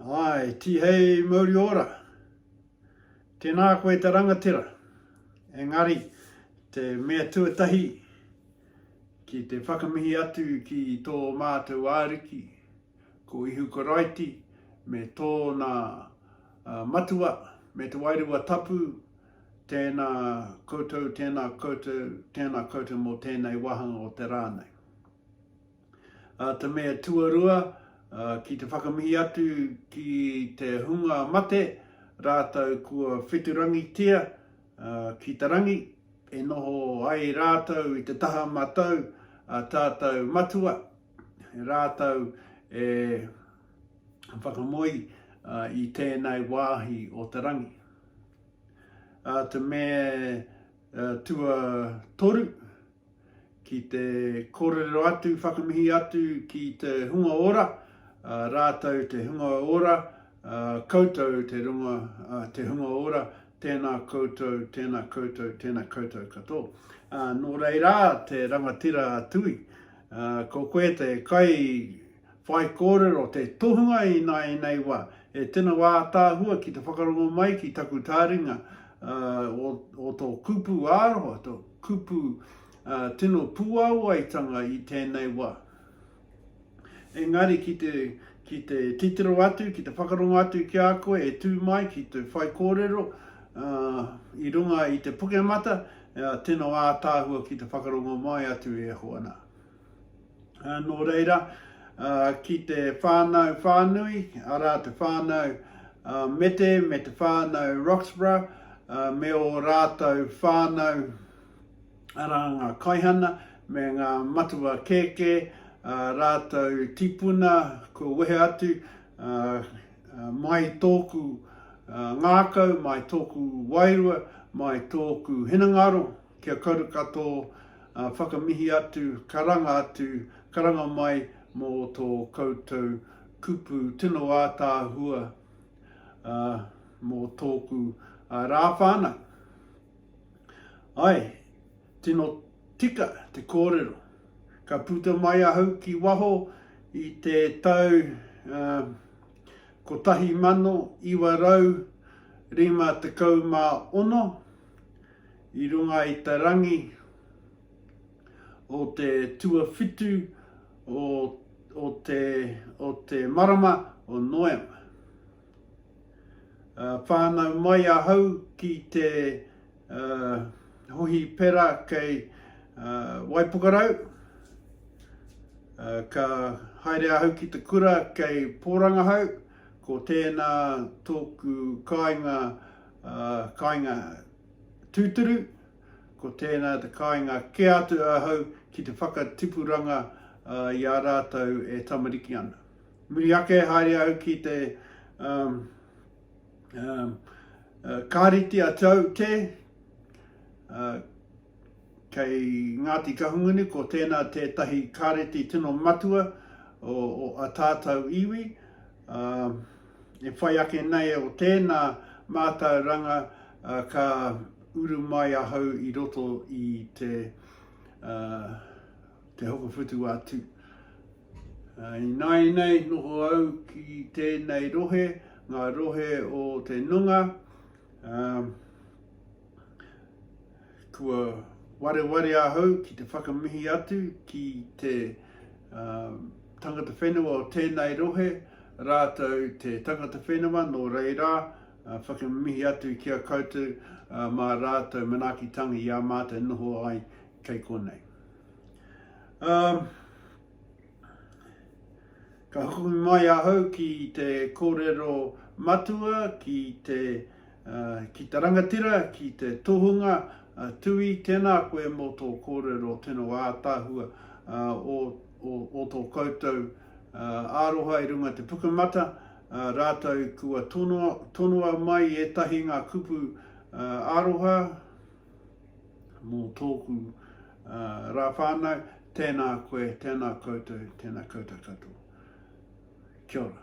Ae, Tihei mauri ora. Tēnā koe te rangatira. Engari, te mea tuatahi, ki te whakamihi atu ki tō mātou Ariki, ko Ihu Karaiti, me Tōna Matua, me Te Wairua Tapu, tēnā koutou, tēnā koutou, tēnā koutou mō tēnei wāhanga o te rā nei. Ā, te mea tuarua, ki te whakamihi atu ki te hunga mate rātou kua wheturangitia ki te rangi, e noho ai rātou i te taha matau a tātou Matua, rātou e whakamoe i tēnei wāhi o te rangi. Ā, te mea tuatoru, ki te kōrero atu, whakamihi atu ki te hunga ora, rātou te hunga ora, koutou te runga, te hunga ora, tēnā koutou, tēnā koutou, tēnā koutou katoa. Nō reira, te rangatira a Tui, ko koe te kai, Whaikōrero, te tohunga i nāianei wā. E tino ātaahua ki te whakarongo mai ki taku tāringa o tō kupu ā-rohe, tō kupu tino puāwaitanga i tēnei wā. Engari ki te titiro atu, ki te whakarongo atu ki a koe e tū mai ki te whaikōrero i runga i te Pukemata, tino ātaahua ki te whakarongo mai atu e hōna. Nō reira, ki te whānau whānui, arā te whānau Mete me te whānau Roxburgh, me ō rātou whānau, arā ngā kaihana me ngā matua kēkē, ā rātou tipuna kua wehe atu, mai tōku ngākau, mai tōku wairua, mai tōku hinengaro, Kia karu ka tō whakamihi atu, karanga atu, karanga mai mō tō koutou kupu tino ātaahua mō tōku rā whānau. Ae, tino tika te kōrero. Ka puta mai ahau ki waho i te tau 1956, I runga i te rangi o te tuawhitu o te marama o Noema. Whānau mai ahau ki te Hohipera kei Waipukarau. Ka haere ahau ki te kura kei Pōrangahau. Ko tēnā tōku kāinga, kāinga tūturu, ko tēnā te kāinga kē atu ahau ki te whakatipuranga i a rātou e tamariki ana. Muri ake haere au ki te Kāreti a Tau Te, Kei Ngāti Kahungunu ko tēnā tētahi kāreti tino matua o a tātau iwi. E whai ake nei o tēnā mātauranga ka uru mai ahau i roto i te te hokowhitu a tū. I nāi nei noho au ki tēnei rohe, ngā rohe o te nunga, Kua wareware ahau ki te whakamihi atu ki te uh, tangata whenua o tēnei rohe, rātou te tangata whenua, nō reira, uh, whakamihi atu ki a koutou uh, mā rātou manaaki tangi i a mātou noho ai kei konei. Um, Ka hoki mai ahau ki te kōrero matua, ki te, uh, ki te rangatira, ki te tohunga, uh, Tui, tēnā koe mō tō kōrero tino ātahua uh, o, o, o tō koutou uh, aroha i runga te pukamata, uh, rātou kua tonoa, tonoa mai ētahi ngā kupu uh, aroha, mō tōku rā whānau, tēnā koe, tēnā koutou, tēnā koutou katoa. Kia ora.